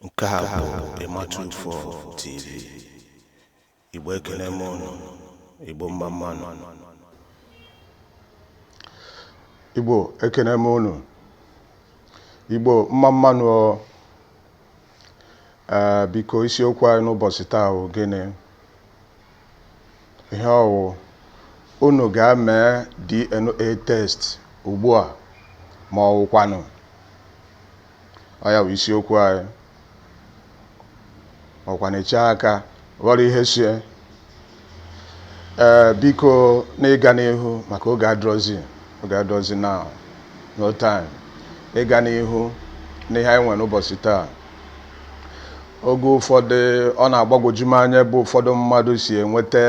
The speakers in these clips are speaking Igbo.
nke a bụ ịmatụ ufọ tv igbo ekele m ụnụ igbo mma mma nụ igbo ekele m ụnụ igbo mma mma nụ Ee, biko isiokwu anyị n'ụbọsị taa bụ gịnị? Ihe ọ wụ unu ga-eme DNA test ugbu a ma ọ wụkwanụ ọ ya bụ isiokwu anyị ọkwa na-eche aka ghọrọ ihe sie ee biko n'ịga n'ihu maka oge adịrọzi oge adịrọzi now no time ịga n'ihu n'ihe anyị nwere ụbọsị taa oge ụfọdụ ọ na-agbagwoju m anya ebe ụfọdụ mmadụ si enweta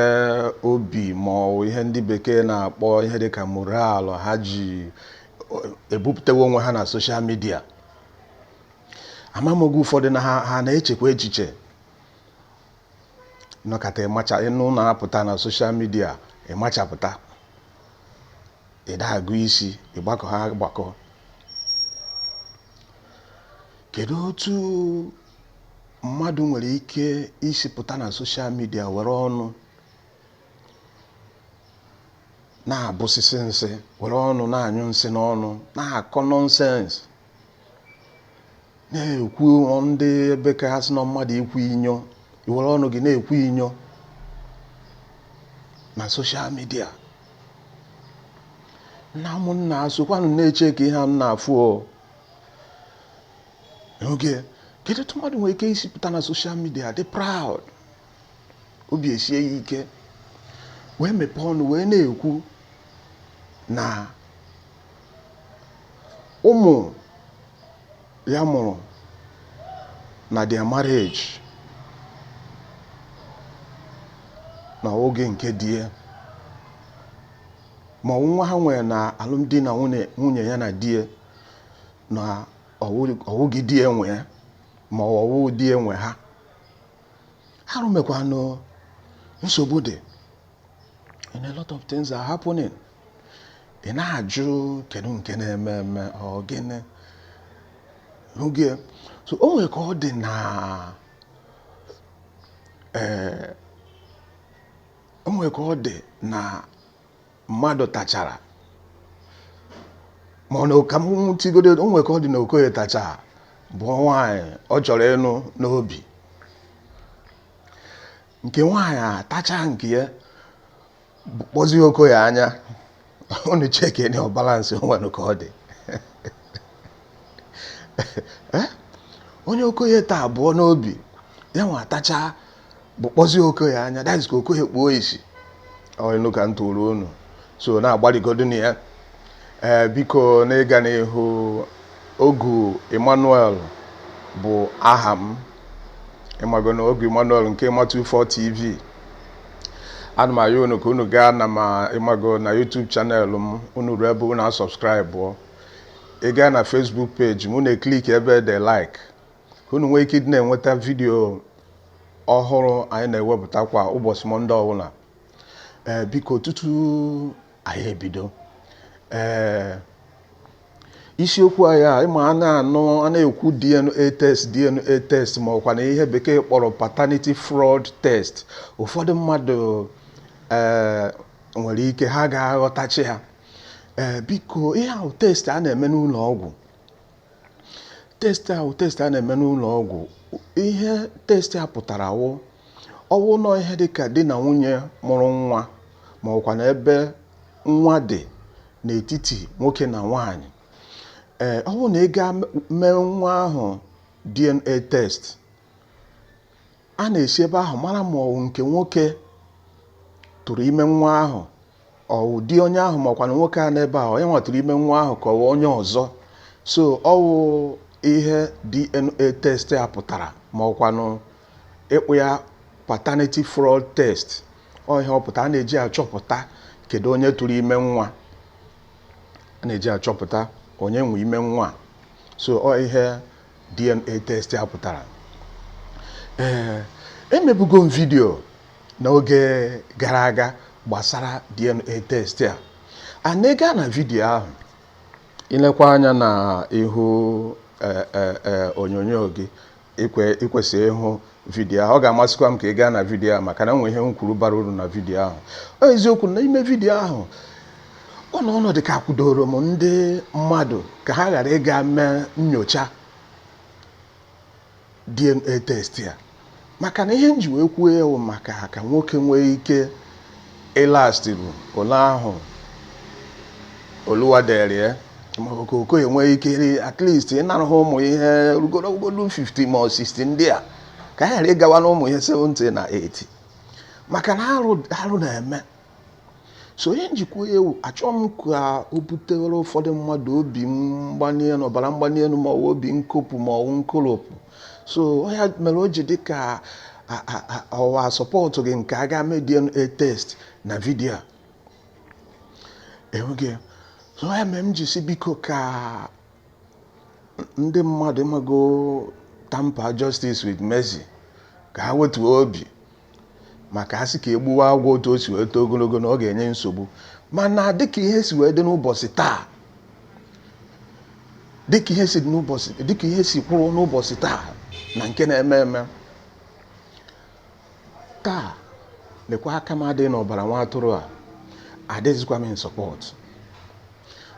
obi ma ọ bụ ihe ndị bekee na-akpọ ihe dịka moral ha ji ebupụtawo onwe ha na social media ama m oge ụfọdụ na ha ha na-echekwa echiche nọkata ịmacha ịnụ na apụta na social media ịmachapụta ịdagụ isi ịgbakọ ha agbakọ kedu otu mmadụ nwere ike isi pụta na social media were ọnụ na-abụsịsị nsị were ọnụ na-anyụ nsị n'ọnụ na-akọ nonsense na-ekwu ndị ebe ka ha si na mmadụ ikwu inyo iwere ọnụ gị na-ekwu inyo na social media na ụmụnna asokwanụ na-eche ka ihe a na-afụ oge kedu otu mmadụ nwere ike isi pụta na social media dị proud obi esie ya ike wee mepee ọnụ wee na-ekwu na ụmụ ya mụrụ na their marriage na ọ wụghị nke di ya ma ọ bụ nwa ha nwere na alụmdi na nwunye ya na di ya na ọ wụghị di ya nwe ya ma ọ wụghị di ya nwe ha arụ emekwanụ nsogbu dị and a lot of things are happening ị na-ajụ kedu nke na-eme eme ọ gịnị n'oge so o nwere ka ọ dị na ee o nwere ka ọ dị na mmadụ tachara ma ọ na ka m tigodo o nwere ka ọ dị na okoye tachara bụ nwaanyị ọ chọrọ ịnụ n'obi nke nwaanyị atacha nke ya kpọzie okoye anya unu cheki nụ ọ balance onwere ka ọ dị eh? onye okoye taa abụọ n'obi ya nwa atacha bụ kpọzie okoye anya that is ka okoye kpuo isi ọ inu ka m tụrụ unu so na-agbarigodunu ya ee eh, biko n'ịga n'ihu ogu emmanuel bụ aha m ịmago na ogu Emmanuel nke Matu 4 TV ana m ayọ unu ka unu gaa na ma ịmago na YouTube channel m unu ruo ebe unu asubscribe ị gaa na Facebook page m unu ekliki ebe de like ka unu nwee ike ịdị na-enweta vidiyo ọhụrụ anyị na-ewepụta kwa ụbọchị Monday ọbụla ee biko tutu anyị ebido ee isiokwu anyị a ịma a na-anụ a na-ekwu DNA test DNA test ma ọkwa na ihe bekee kpọrọ paternity fraud test ụfọdụ mmadụ ee nwere ike ha ga-aghọtachi ha ee biko ihe a wụ test a na-eme n'ụlọ ọgwụ test a wụ test a na-eme n'ụlọ ọgwụ ihe test a pụtara wụ ọwụ na ọ ihe dịka di na nwunye mụrụ nwa ma ọkwa na ebe nwa dị n'etiti nwoke na nwaanyị ee ọwụrụ na a gaa mee nwa ahụ DNA test a na-esi ebe ahụ mara ma ọwụ nke nwoke tụrụ ime nwa ahụ ọwụ di onye ahụ makwanụ nwoke a nọ ebe ahụ ọ ya nwa tụrụ ime nwa ahụ ka ọwụ onye ọzọ so ọwụ ihe DNA test a pụtara ma ọkwanụ ị kpọọ ya paternity fraud test ọ ihe ọ pụtara a na-eji achọpụta kedu onye tụrụ ime nwa a na-eji achọpụta onye nwe ime nwa so ọ ihe DNA test a pụtara ee emebugo m vidio n'oge gara aga gbasara DNA test a and ị gaa na vidio ahụ ilekwa anya na ihu ee, ee, ee, onyonyo gị ikwe ikwesị ịhụ vidiyo ahụ ọ ga-amasịkwa m ka ị gaa na vidiyo ahụ maka na o nwe ihe m kwuru bara uru na vidiyo ahụ ọ eziokwu na ime vidiyo ahụ ọ na ọ na-adị ka kwudoro m ndị mmadụ ka ha ghara ịga mee nyocha DNA test a maka na ihe m ji wee kwuo ya wụ maka ka nwoke nwee ike ịlast bụ ole ahụ oluwa dere ya ma ọ ka okoye nwee ike ri- at least ịnọru ha ụmụ ihe rugoro ogologo 50 ma ọ 60 ndị a ka ha ghara ịgawa na ụmụ ihe 70 na 80 maka na arụ arụ na-eme so ọ ihe m ji kwuo ya wụ achọghị m ka o butere ụfọdụ mmadụ obi mgbali elu ọbara mgbali elu ma ọ bụ obi nkopụ ma ọ bụ nkoropụ so ya mere o ji dị ka ọ wa support gị nke a ga mee DNA test na video a enweghị so ya mere m ji sị biko ka ndị mmadụ ịmago tamper justice with mercy ka ha wetuo obi maka a sị ka e gbuwa agwọ otu o si wee too ogologo na ọ ga-enye nsogbu mana dịka ihe si wee dị n'ụbọchị taa dịka ihe si kwụrụ n'ụbọchị taa na nke na-eme eme taa lekwa aka m adịghị n'ọbara nwa atụrụ a adịghịzikwa m in support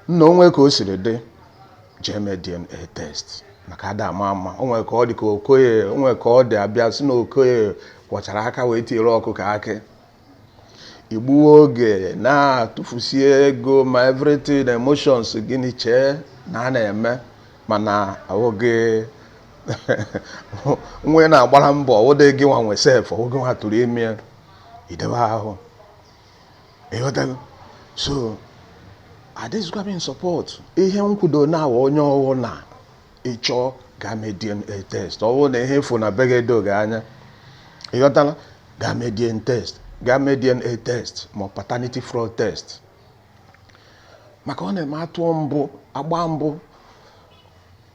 nna o nwe ka o siri dị jee mee DNA test maka ada ama ama o nwere ka ọ dị ka okoye o nwere ka ọ dị a bịa sị na okoye kwọchara aka wee tiere ọkụkọ akị i gbuwe oge na-atụfusi ego ma everything emotions gịnị chee na a na-eme mana oge nwe na-agbara mbọ ọ wụdị gịnwa nwe sef ọ wụ gịnwa tụrụ ime idebe ahụ ị ghọtago so adịzikwa m in support ihe m kwudo now onye ọ wụ na ị chọ ga mee DNA test ọ wụ na ihe ị fụ na be gị edo gị anya ị ghọtala ga mee DNA test ga mee DNA test ma paternity fraud test maka ọ na-eme a tụọ mbụ a gbaa mbụ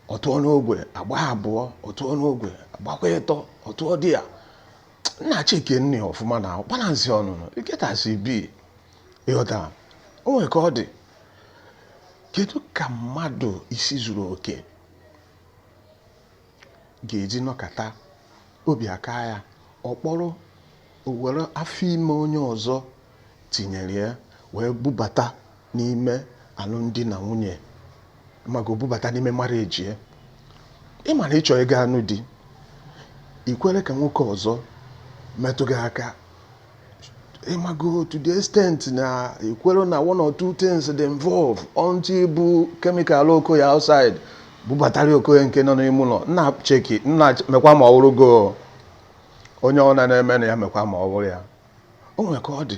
ọ tụọ n'ogwe a gbaa abụọ ọ tụọ n'ogwe a gbakwa ịtọ ọ tụọ di ya nna chekinụ ọfụma na balance ọnụnụ iketasi bi ị ghọta o nwere ka ọ dị kedu ka mmadụ isi zuru oke ga-eji nọkata obi akaa ya ọ kpọrọ o were afọ ime onye ọzọ tinyere ya wee bubata n'ime alụmdi na nwunye ịmago bubata n'ime marriage ya ị ma na ị chọọ ịga anụ di i kwere ka nwoke ọzọ metụ gị aka ịmago to the extent na i kwere na one or two things dị involve until i bu chemical okoye outside bubatara okoye nke nọ n'ime ụlọ nna cheki nna mekwa ma ọ wụrụ gị onye ọ na-eme na ya mekwa ma ọ bụrụ ya o nwere ka ọ dị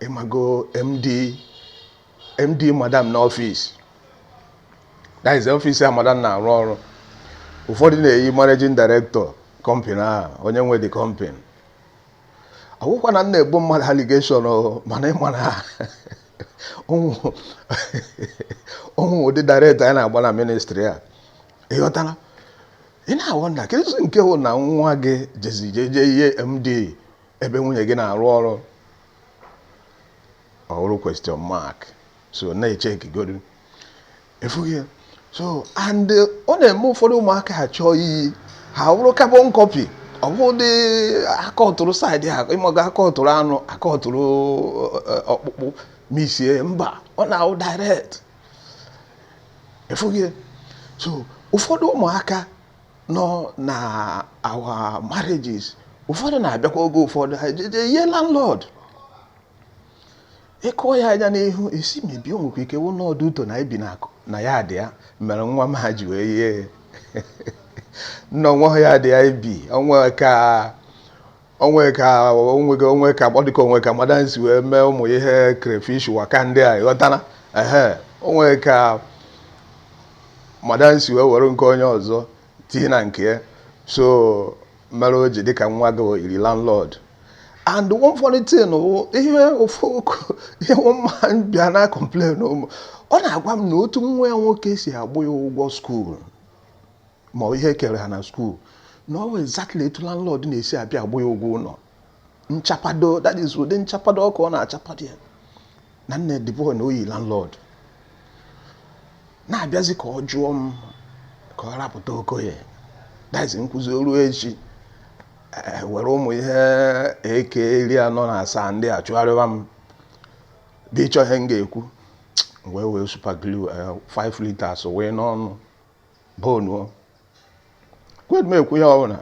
ịmago md md madam n'office that is office a madam na-arụ ọrụ ụfọdụ na-eyi managing director company ahụ onye nwe the company ọ wụkwa na m na-ebo mmadụ allegation o, mana ị ma na ụmụ ụmụ ụdị director anyị na-agba na ministry a ị ghọtara ị na-awonder kedu nke wụ na nwa gị jezi jeje yie md ebe nwunye gị na-arụ ọrụ ọ wụrụ question mark so na-echekigodu ịfụghị ya so and ọ na-eme ụfọdụ ụmụaka ha chọọ iyi ha bụrụ carbon copy ọ bụ ụdị akatụrụ side ha ịmago akatụrụ anụ akatụrụ eh, ọkpụkpụ m sị mba ọ na-awụ direct ịfụghị ya so ụfọdụ ụmụaka nọ na our marriages ụfọdụ na-abịakwa oge ụfọdụ ha ejee yie landlord ịkụọ ya anya n'ihu ị sị maybe o nwekwa ike wụ na ọ due to na ibi na akụ na yard ya mere nwa m a ji wee yie nna onwe yard ya ibi onwe ka onwe ka onwe ka onwe ka ọ dịka onwe ka madam si wee mee ụmụ ihe crayfish waka ndị a ịghọtara ehe onwe ka madam si wee were nke onye ọzọ tinye na nke ya so mere o ji dịka nwa gị yiri landlord and one funny thing wụ ihe ofu ihe nwa m bịa na complain m ọ na-agwa m na otu nwa ya nwoke si agba ya ụgwọ school ma ọ ihe ekere ha na school na ọ wụ exactly etu landlord na-esi abịa agba ya ụgwọ ụlọ nchapado that is ụdị nchapado ọkụ ọ na-achapado ya na nne the boy na-eyi landlord na-abịazi ka ọ jụọ m ka ọ rapụta okoye that is nkụzi oru echi Eh, were ụmụ ihe AK iri anọ na asaa ndị a chụgharịwa m bịa chọ ihe m ga-ekwu wee were super glue 5 eh, liters wee n'ọnụ bonuo kwed m ekwu ihe ọbụla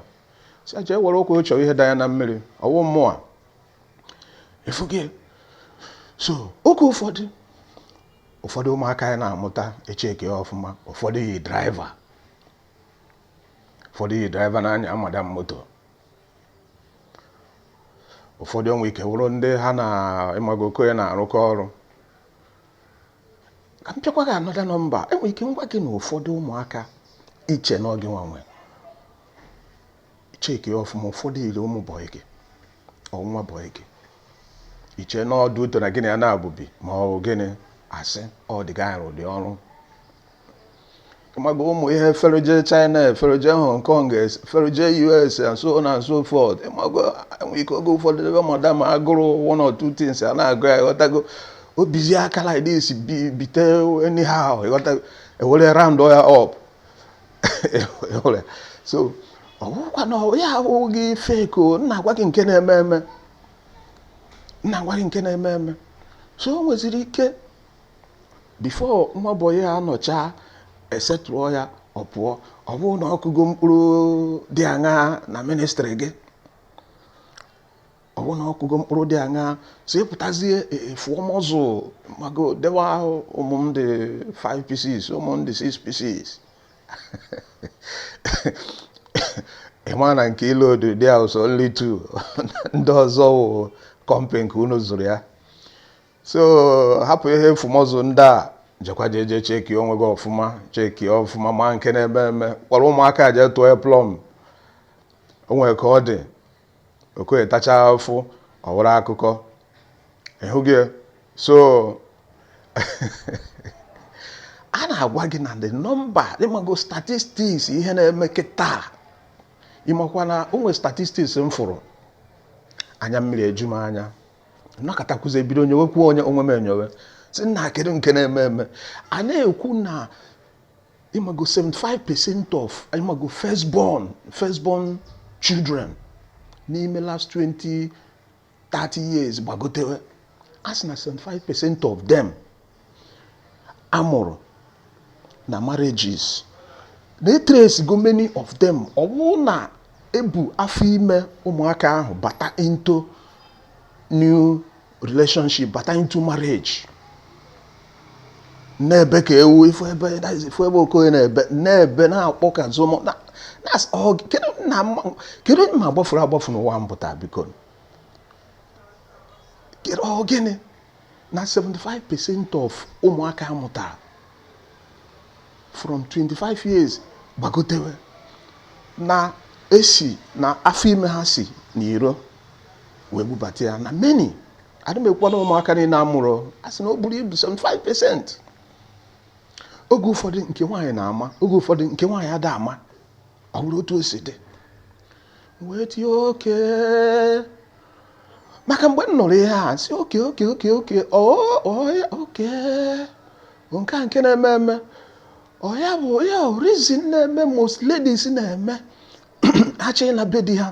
si aja ewere ụkwụ chọrọ ihe da ya na mmiri ọwụ mụwa ịfụghị so oge ụfọdụ ụfọdụ ụmụaka ị na-amụta chekie ọfụma ụfọdụ yi driver ụfọdụ yi driver na-anya madam moto ụfọdụ onwe ike wụrụ ndị ha na ịmago okoye na-arụkọ ọrụ ka m pịakwa gị another number enwere ike m gwa gị na ụfọdụ ụmụaka iche na ọ gị nwe ị chekie ọfụma ụfọdụ yiri ụmụ boy gị ọ nwa boy gị iche na ọ due to na gị na ya na-ebi ma ọ bụ gịnị asị ọ the guy rụ the ọrụ mago ụmụ ihe feroje china feroje hong kong feroje us and so on and so forth mago enwere ike oge ụfọdụ ebe madam agụrụ one or two things a na-agụ ya ghọtago obizi aka like this bite anyhow ghọtago ewere round ya up so ọgwụkwa na ya awụghị fake o m na-agwa gị nke na-eme eme m na-agwa gị nke na-eme eme so o nweziri ike Before nwa boy anọchaa e settle-ụọ ya ọ pụọ, ọ bụrụ na ọ kụgo mkpụrụ dị aṅaa na ministry gị? Ọ bụrụ na ọ kụgo mkpụrụ dị aṅaa, so ị pụtazie e, e, fụọ muscle ịmago dewa ahụ ụmụ m dị 5 pieces, ụmụ m dị 6 pieces. ị ma na nke ị loadụ there is only 2 ndị ọzọ wụ company ka unu zụrụ ya so hapụ ihe ịfụ muscle ndị a jekwa jee jee checkie onwe gị ọfụma checkie ọfụma ma nke na-eme eme kpọrọ ụmụaka jee tụọ ha plumb o nwere ka ọ dị Okoye tacha afụ ọ wụrụ akụkọ ị hụgo so a na-agwa gị na the number ịmago statistics ihe na-eme kịta ị makwa na o nwere statistics m fụrụ anya mmiri eju m anya nọkatakwuzie bido nyowekwuo onye onwe m enyo wee sị nna kedu nke na-eme eme a na-ekwu na ịmago 75 percent of ịmago first born first born children n'ime last 20 30 years gbagotewe a sị na 75 percent of them a mụrụ na marriages na e trace-igo many of them ọ bụrụ na e bu afọ ime ụmụaka ahụ bata into new relationship bata into marriage na-ebe ka ewu ị fụ ebe ị fụ ebe Okoye na-ebe na-ebe na-akpọ ka zomo kedu onye ma agbafuru agbafu n'ụwa m pụta biko kedu ọ gịnị na 75 percent of ụmụaka a mụtara from 25 years gbagotewe na e si na afọ ime ha si na iro wee bubata ya na many adị m ekwu na ụmụaka niile a mụrụ a sị na o buru ibu 75 percent oge ụfọdụ nke nwaanyị na-ama oge ụfọdụ nke nwaanyị ada ama ọ bụrụ otu o si dị wee tie oke maka mgbe m nụrụ ihe a sị oke oke oke oke oya oke nke a nke na-eme eme ọ ya bụ ya reason na-eme most ladies na-eme ha chọ ịna be di ha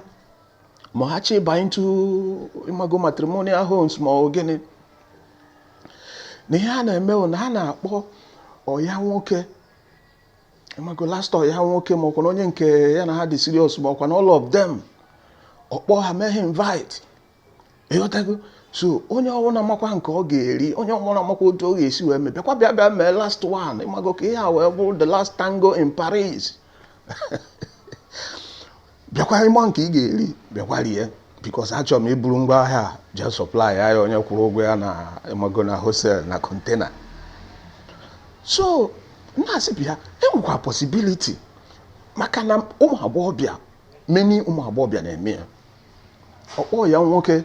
ma ha chọ ịba into ịmago matrimonial homes ma ọ gịnị na ihe a na-eme na ha na-akpọ ọyị ha nwoke ịmago last ọyị ya nwoke ma ọkwa na onye nke ya na ha dị serious ma ọkwa na all of them ọ kpọọ ha mee ha invite ịghọtago so onye ọbụla makwa nke ọ ga-eri onye ọbụla makwa otu ọ ga-esi wee mee bịakwa bịa bịa mee last one ịmago ka ihe a wee bụrụ the last tango in Paris bịakwa ịma nke ị ga-eri bịakwa rie bikos achọrọ m iburu ngwa ahịa a jee sọplai ya ya onye kwụrụ ụgwọ ya na ịmago na hosel na kọntena so na-asị bịa enwekwa pọsibiliti maka na ụmụ agbọghọbịa meni ụmụ agbọghọbịa na-eme ya ọkpọ ya nwoke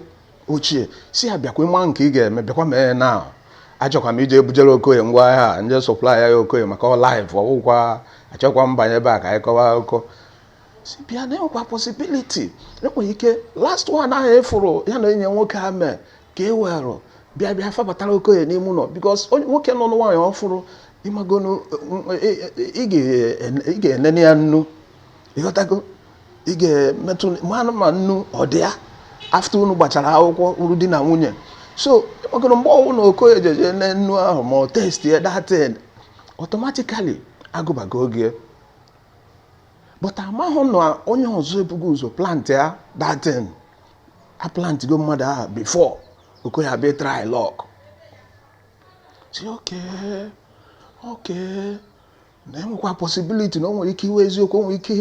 ochie sị ya bịakwa ịma nke ị ga-eme bịakwa mee ya na achọkwa m ije ebujere okoye ngwa ahịa a jee sọplai ya ya okoye maka ọ laif ọgwụkwa achọkwa m ịbanye ebe a ka anyị kọwa akụkọ sị bịa na enwekwa posibiliti enwere ike last one ahụ efuru ya na enyi nwoke ya mee ka e werụ bịa bịa pabatara okoye n'ime ụlọ bikos nwoke nụọ nwaanyị ọfụrụ ịmagonu ị ga-enene ya nnu ịghọtago ị ga-emetụ mmanụ ma nnu ọ dị ya afta unu gbachara akwụkwọ wụrụ di na nwunye so ịmagonu mgbe ọ wụ na okoye jeje ne nnu ahụ ma ọ test ya datin automatically agụbago oge but amahụ na onye ọzọ ebugo ụzọ plant ya datin aplantigo mmadụ ahụ bifo okoye bịa trai lọk sị oke oke na enwekwa posibiliti na o nwere ike ịwụ eziokwu o nwere ike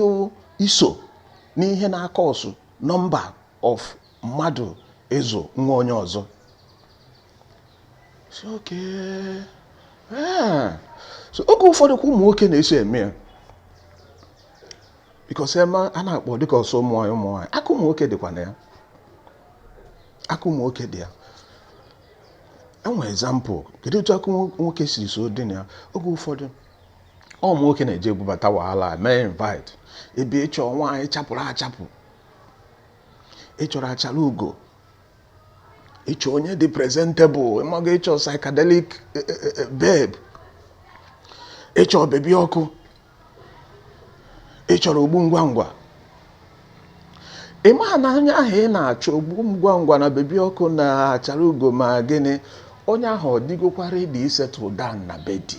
iso n'ihe na-akọsụ nọmba of mmadụ ịzụ nwa onye ọzọ eh. oge ụfọdụ kwa ụmụ nwoke na-eso eme ya bikọsi em a na-akpọ dịka ọ sọ ụmụ nwaanyị ụmụ nwaanyị aka ụmụ nwoke dịkwa na ya aka ụmụ nwoke dị ya enwe ezampụ kedu otu aka nwoke siri si dị na ya oge ụfọdụ ụmụ nwoke na-eje ebubata wahala mee invite ebe ịchọ nwaanyị chapụrụ achapụ ị chọrọ achara ugo ịchọ onye dị presentable ịmago ịchọ psychedelic eh, eh, eh, eh, babe ịchọ bebi ọkụ ị chọrọ ogbu ngwa ngwa ị maha na onye ahụ ị na-achọ ogbu ngwa ngwa na bebi ọkụ na achara ugo ma gịnị onye ahụ ọ dịgokwa redi isetụl dan na be di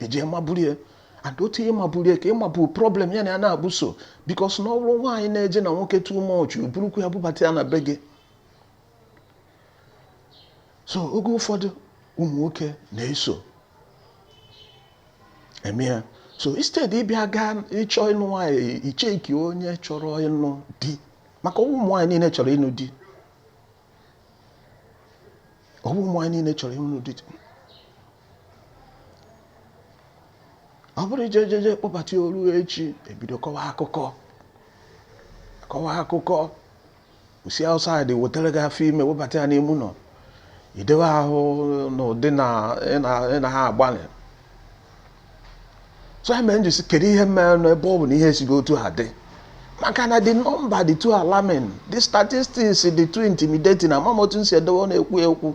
i jee maburu ya and otu i ji maburu ya ka ị maburu problem ya na ya na-abụso bikos na ọ wụrụ nwaanyị na-eje na nwoke too much o burukwu ya bubata ya na be gị so oge ụfọdụ ụmụ nwoke na-eso eme ya so instead ịbịa gaa ịchọ ịnụ nwaanyị icheki onye chọrọ ịnụ di maka ụmụ nwaanyị niile chọrọ ịnụ di ọ bụ ụmụ nwaanyị niile chọrọ ịnụ di ọ bụrụ i jee jee kpọbata ya o ruo echi ebido kọwa akụkọ kọwa akụkọ o si outside wetara gị afọ ime pabata ya n'ime ụlọ i dewe ahụ n'ụdị na ị na- ị na ha agbalị so ya mere m ji sị kedu ihe mere nụ ebe ọ bụ na ihe esigo otu a dị maka na the number dị too alarming the statistics dị too intimidating ama m otu m si edowe ọnụ ekwu okwu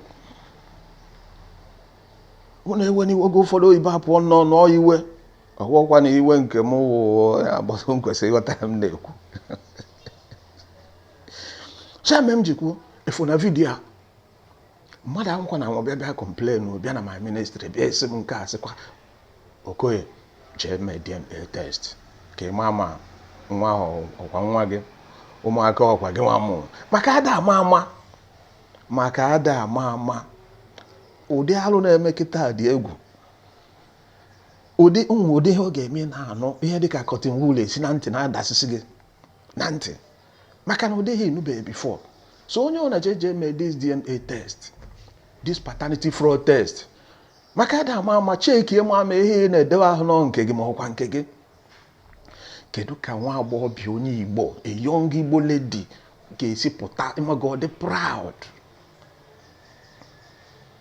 mụ na-ewe iwe oge ụfọdụ oyibo apụọ nnọọ nọọ iwe ọwụkwa na iwe nke m wụ ya agbasa m kwesịrị ịghọta ya m na-ekwu so ya mere m ji kwuo ihe ahụ na vidiyo a mmadụ ọ wụkwa na ọ bịa bịa complain bịa na my ministry bịa sị m m ga-asịkwa okay jee mee DNA test ka ị maa ma nwa ahụ ọkwa nwa gị ụmụaka ọkwa gị nwa mụrụ maka ada ama ama maka ada ama ama ụdị alụ na-eme kịta dị egwu ụdị ụmụ ụdị ihe ọ ga-eme ị na-anụ ihe dịka cotton wool esi na ntị na-adasịsị gị na ntị maka na ụdị ihe ị nụbeghị before so onye ọbụna jee jee mee this dna test this paternity fraud test maka ada ama ama checkie ịma ma ihe ị na-edewe ahụ na ọ nke gị ma ọkwa nke gị kedu ka nwa agbọghọbịa onye igbo a young igbo lady ga-esi pụta ịmago ọ dị proud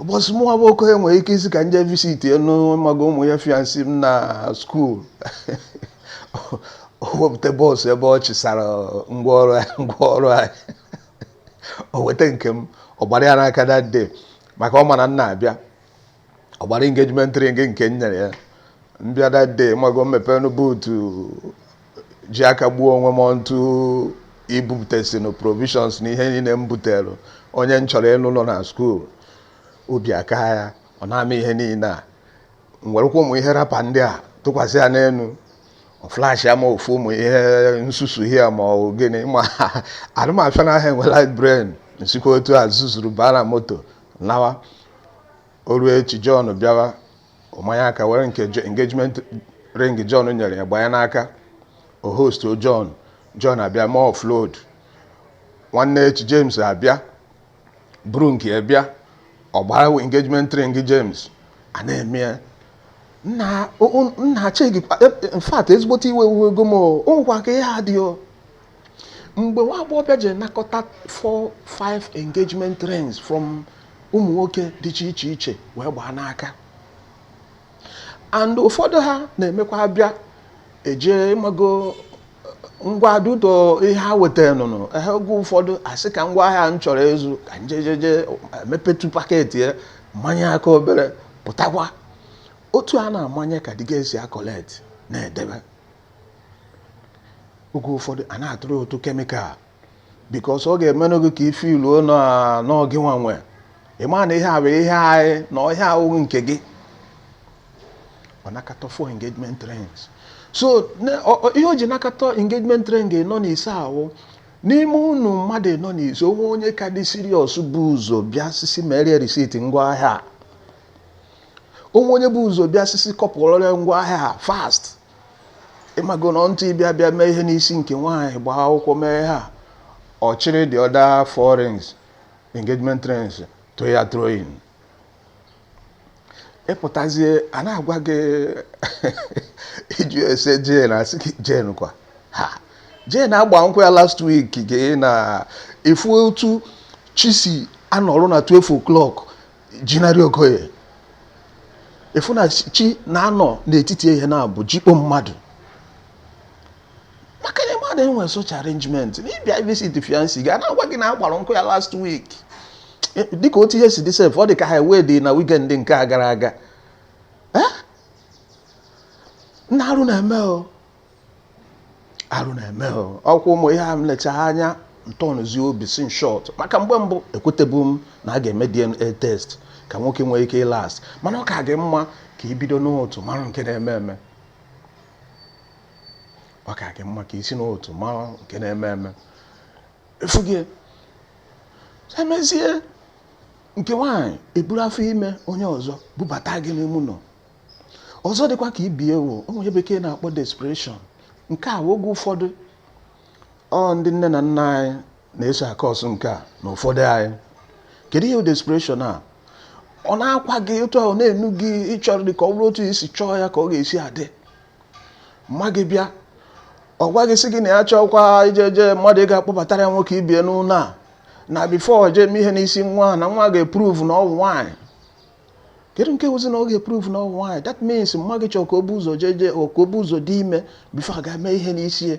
ụbọchị mụnwa bụ okenye nwere ike ịsị ka m jee visitienụ mago my fiancée m na school o wepụta box ebe ọ chịsara ngwa ọrụ anyị ngwa ọrụ anyị o weta nke m ọ gbara ya n'aka that day maka ọ ma na m na-abịa ọ gbara engagement ring nke m nyere ya m bịa that day mago m mepee nụ boot ji aka gbuo onwe m ọntụ ibupụtasịnụ provisions na ihe niile m butere onye m chọrọ ịlụ nọ na school obi akaa ya ọ naa m ihe niile a m werekwa ụmụ ihe wrapper ndị a tụkwasị ya n'elu flash ama ofu ụmụ ihe nsusu hia ma ọ gịnị ma anụ ọfịa na ahịa enwela brain m sikwa otu a zuzuru baa na moto nawa o ruo echi John bịawa ọ manye aka were nke engagement ring John nyere ya gbanye n'aka o hostuo John John abịa mee offload nwanne echi James abịa buru nke ya bịa ọ gbara engagement ring James a na-eme ya nna chei in fact ezigbote iwe ewego m ọ wụkwa ka ihe a dị o mgbe nwa agbọghọbịa ji nakọta 4 5 engagement rings from ụmụ nwoke dị iche iche iche wee gbaa n'aka and ụfọdụ ha na-emekwa abịa eje mago ngwa duto ihe ha wetara nụnụ ehe oge ụfọdụ a sị ka ngwa ahịa m chọrọ ịzụ ka m jee jee mepetụ packet ya manye aka obere pụtakwa otu a na-amanye ka dịga esi acollect na-edebe oge ụfọdụ a na-atụrụ ụtụ chemical because ọ ga-emenụ gị ka ị feel na ọ gị nwa nwe ị ma na ihe a bụ ihe anyị na ọha awụghị nke gị ọ nakọta four engagement rings so ihe o ji nakọta engagement ring anọ na ise ahụ n'ime unu mmadụ anọ na ise o nwee onye ka dị serious bu ụzọ bịa isi isi merie receipt ngwa ahịa o nwee onye bu ụzọ bịa isi isi kpọpụrụ ngwa ahịa fast ịmago na until ị bịa bịa mee ihe n'isi nke nwaanyị gbaa akwụkwọ mee ha ọ chịrị the other four rings engagement rings throw ya throwing ịpụtazie a na-agwa gị ịjụ ese jane a sị gị jane kwa ha jane agbaa nkwụ ya last week gị na ịfụ otu chi si anọrụ na 12 o'clock jinarị okoye ịfụ na chi na-anọ n'etiti ehihie na abụ jikpo mmadụ maka na mmadụ enwee such arrangement na ịbịa visit fiancee gị a na-agwa gị na agbara nkwụ ya last week e, dịka otu ihe si dị sef ọ dị ka ha wedi na weekend nke a gara aga nna arụ na-eme o arụ na-eme ọkwa ụmụ ihe a m lechaa anya m tọnụzie obi sị in short maka mgbe mbụ ekwetebu m na a ga-eme DNA test ka nwoke nwee ike ịlast mana ọ ka gị mma ka i bido n'ụtụtụ mara nke na-eme eme ọ ka gị mma ka i si n'ụtụtụ mara nke na-eme eme before gị emezie nke nwaanyị eburu afọ ime onye ọzọ bubata gị n'ime ụlọ ọzọ dịkwa ka ibe ya wụ ụmụ ihe bekee na-akpọ desperation nke a oge ụfọdụ ọ ndị nne na nna anyị na-eso acause nke a na ụfọdụ anyị kedu ihe desperation a ọ na-akwa gị otu ahụ na-enu gị ịchọrọ dị ka ọ bụrụ otu i si chọọ ya ka ọ ga-esi adị mma gị bịa ọ gwa gị sị gị na ya achọkwa ijeje mmadụ ị ga-akpọbatara ya nwoke ibe ya n'ụlọ a na before jee eme ihe n'isi nwa na nwa ga-eprove na ọ wụ nwaanyị kedu nke wụzi na ọ ga-eprove na ọ wụ nwaanyị that means mma gị chọọ ka o bu ụzọ jeje ka o bu ụzọ dị ime before a ga-eme ihe n'isi ya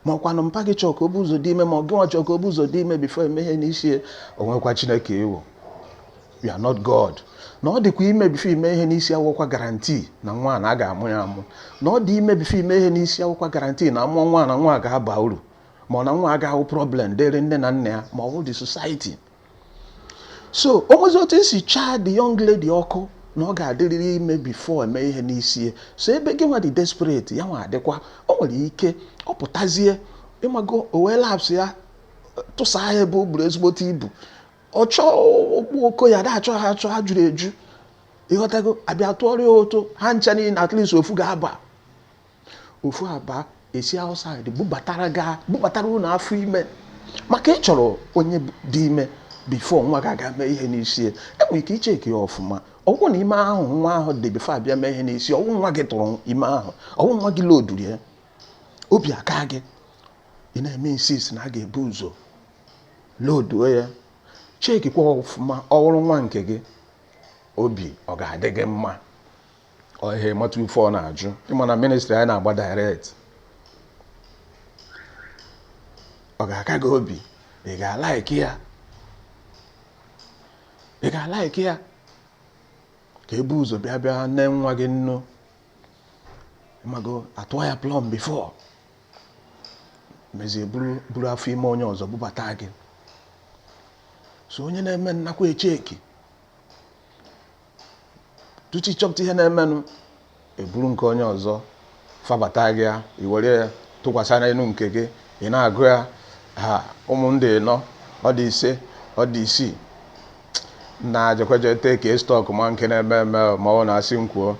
ma ọkwanụ mpa gị chọọ ka o bu ụzọ dị ime ma ọ gị nwa chọọ ka o bu ụzọ dị ime before eme ihe n'isi ya o nwekwa chineke ị wụ you are not god na ọ dịkwa ime before ime ihe n'isi awụkwa guarantee na nwa na a ga-amụ ya amụ na ọ dị ime before ime ihe n'isi awụkwa guarantee na amụọ nwa na nwa ga-aba uru ma ọ na nwa agaghị abụ problem dịrị nne na nna ya ma ọ bụ the society so o nwezi otu esi chaa the young lady ọkụ na ọ ga-adịrịrị ime before eme ihe n'isi so ebe gị nwa dị desperate ya nwa adịkwa o nwere ike ọ pụtazie ịmago o were laps ya tụsa ha ebe o buru ezigbote ibu ọ chọọ okpu oko ya da achọ ha achọ ha juru eju ịghọtago abịa tụọrọ ya ụtụ ha ncha niile at least ofu ga-aba ofu aba esi outside bubatara gị bubatara unu afọ ime maka ị chọrọ onye dị ime before nwa gị aga mee ihe n'isi ya enwere ike icheki ya ọfụma ọwụ na ime ahụ nwa ahụ dị before a bịa mee ihe n'isi ọwụ nwa gị tụrụ ime ahụ ọwụ nwa gị loduru ya obi aka gị ị na-eme insist na a ga-ebu ụzọ loduo ya chekikwa ọfụma ọwụrụ nwa nke gị obi ọ ga-adị gị mma ọha ịmata ife ọ na-ajụ ịma na ministri anyị na-agba direct ọ ga-aka gị obi ị ga-alaiki ya ị ga-alaiki ya ka ebu ụzọ bịa bịa nne nwa gị nnu mago atụọ ya plọm before mezie buru afọ ime onye ọzọ bubata gị so onye na-eme nnakwa echeki tupu ịchọpụta ihe na-emenụ eburu nke onye ọzọ fabata gị ya iwere ya tụkwasị n'elu nke gị ị na-agụ ya ha ụmụ m dị ịnọ ọ dị ise ọ dị isii na-ajekweje take stock ma nke na-eme eme ma ọ na-asị m kwuo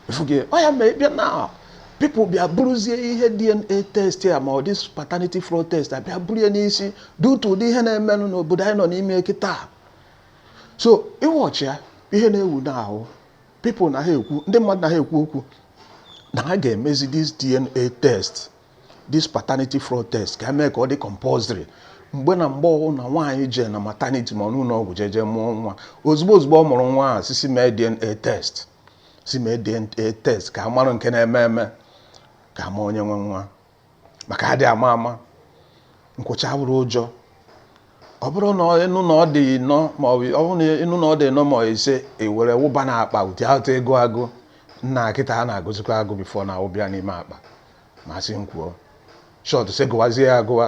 efuge ọ ya mee bịa na people bịa buruzie ihe DNA test a ma ọ the paternity fraud test a bịa buru ya n'isi due to ụdị ihe na-emenụ n'obodo anyị nọ n'ime kịta so ị watchịa ihe na-ewu n'ahụ people na ha ekwu ndị mmadụ na ha ekwu okwu na ha ga-emezi this DNA test this paternity fraud test ka emee ka ọ dị compulsory mgbe na mgbe ọwụla nwaanyị jee na maternity ma ọ n'ụlọ ọgwụ jee jee mụọ nwa ozugbo ozugbo ọ mụrụ nwa a sị sị mee DNA test sị mee DNA test ka a mara nke na-eme eme ka a ma onye nwe nwa maka adị ama ama nkwụcha abụrọ ụjọ ọ bụrụ na ịnụ na ọ dị ịnọ ma ọ bụ ọ bụrụ na ịnụ na ọ dị ịnọ ma ọ ise ewere wụba na akpa ụdị atụ ego agụ nna kịta a na-agụzikwa agụ before na wụba n'ime akpa ma sị m kwuo short sị gụwazie ya agụwa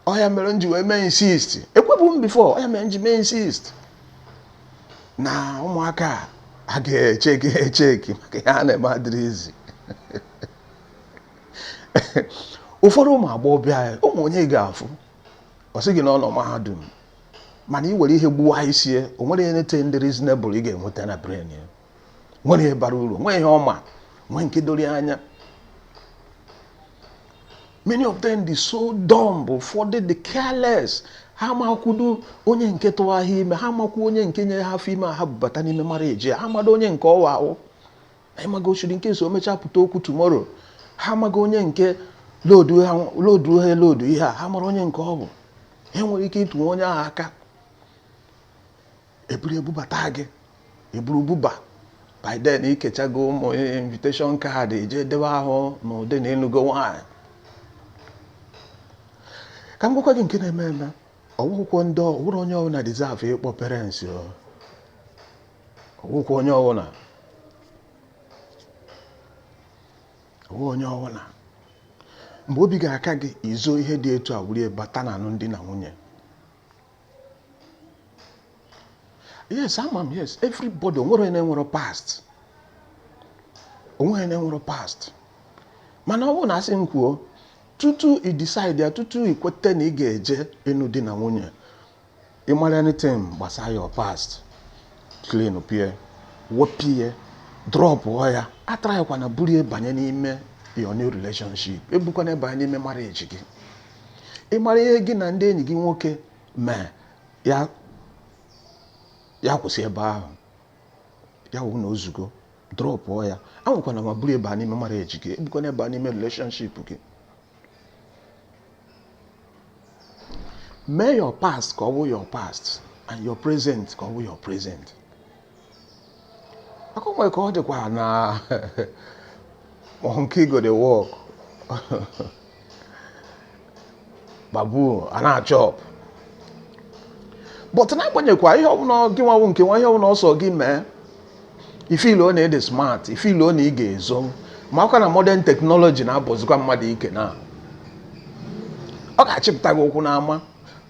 ọ ya mere m ji wee mee insist ekwubu m before ọ ya mere m ji mee insist na ụmụaka a ga-echeki echeki maka ihe a na-eme adịrọ easy ụfọdụ ụmụ agbọghọ bịa ụmụ onye ị ga-afụ ọ sị gị na ọ nọ mahadum mana ị were ihe gbuwa isi ya o nwere anything dị reasonable ị ga-enweta na brain ya nwere ihe bara uru nwee ihe ọma nwee nke doro anya many of them dị so dumb ụfọdụ dị careless ha makwudo onye nke tụwa ha ime ha makwu onye nke nyere ha afọ ime ha bubata n'ime mara eji ha mado onye nke ọwa ahụ anyị maga ochiri nke so mechaa pụta okwu tomorrow ha maga onye nke lodu ha lodu ihe a ha mara onye nke ọ bụ enwere ike ịtụwa onye ahụ aka eburu bubata gị eburu buba by then ikechago ụmụ invitation card eje debe ahụ na ụdị na ịnụgo nwaanyị ka m gwakwa gị nke na-eme eme ọgwụkwọ ndị ọwụrụ onye ọbụla deserve ịkpọ parents ọgwụkwọ onye ọbụla ọwụ onye ọbụla mgbe obi ga-aka gị izo ihe dị etu a were bata na anụm di na nwunye yes ama m yes everybody onwerọ onye na-enwerọ past onwerọ onye na-enwerọ past mana ọ bụrụ na asị m kwuo tutu i decide ya tutu i kweta na ị ga-eje ịnụ di na nwunye ị mara anything gbasara your past clean pụ ya wepụ ya drop ya atraịkwana buru ya banye n'ime your new relationship ebukwana banye n'ime marriage gị ị mara ihe gị na ndị enyi gị nwoke mee ya kwụsị ebe ahụ ya wụ na ozugo drọpụọ ya anwakwana anwa buru ya bịa n'ime marriage gị ebukwana ya bịa n'ime relationship gị mee your past ka ọ wụ your past and your present ka ọ wụ your present akụkọ ka ọ dịkwa na monkey go dey work baboon a na-achop but n'agbanyeghịkwa ihe ọbụla gị nwanwụ nke nwa ihe ọbụla ọsọ gị mee ị feeluo na ị dị smart ị feeluo na ị ga-ezo makwa na modern technology na-agwụzikwa mmadụ ike na ọ ga-achịpụta gị ụkwụ n'ama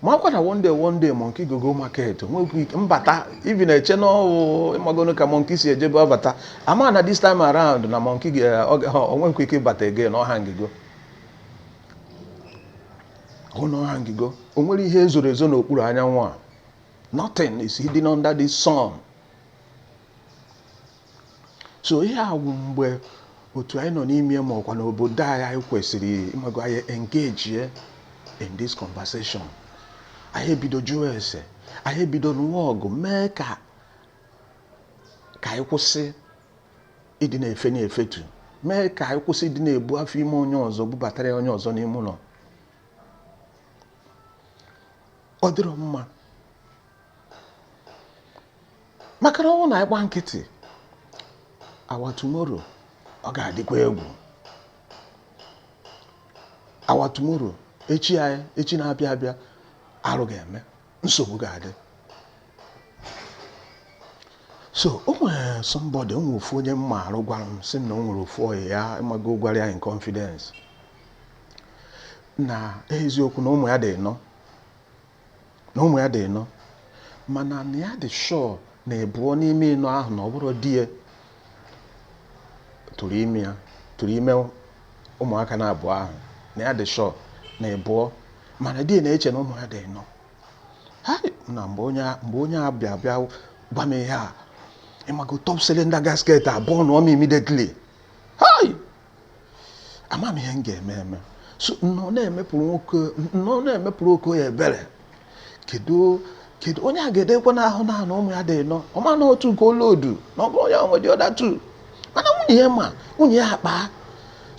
makwa na one day one day monkey go go market nwekwu ike mbata ị bịa na-eche n'ọwụ ịmagonu ka monkey si ejebu abata ama na this time around na monkey ga- ọ ga- ọ nwekwu ike ịbata again ọ hangigo hụ na ọ hangigo o nwerọ ihe zoro ezo n'okpuru anyanwụ a nothing is hidden under the sun so ihe a wụ mgbe otu anyị nọ n'ime makwa n'obodo anyị anyị kwesịrị ịmago anyị engage in this conversation anyị ebido jụwa ese anyị ebido nụwa ọgụ mee ka ka anyị kwụsị ịdị na-efe na-efetu mee ka anyị kwụsị ịdị na-ebu afọ ime onye ọzọ bubatara ya onye ọzọ n'ime ụlọ ọ dịrọ mma maka na ọwụ na anyị gba nkịtị our tomorrow ọ ga-adịkwa egwu our tomorrow echi anyị echi na-abịa abịa arụ ga-eme nsogbu ga-adị so o nwere somebody o nwere ofu onye m maarụ gwara m sị na o nwere ofu ọyị ya ịmago gwara ya in confidence na eziokwu na ụmụ ya dị ịnọ na ụmụ ya dị ịnọ mana na ya dị sure na ịbụọ n'ime ịnọ ahụ na ọ bụrọ di ya tụrụ ime ya tụrụ ime ụmụaka na abụọ ahụ na ya dị sure na ịbụọ mana di ya na-eche na ụmụ ya dị ịnọ hai na mgbe onye a- mgbe onye a bịa bịa gwa m ihe a ị mago top cylinder gasket aburnụọ m immediately hai ama m ihe m ga-eme eme so m nọọ na-emepụrụ nwoke m nọọ na-emepụrụ okoye ebere kedu kedu onye a ga-adịkwa n'ahụ na na ụmụ ya dị ịnọ ọ ma na otu nke olodu na ọ bụrọ ya nwe the other two mana nwunye ya ma nwunye ya akpa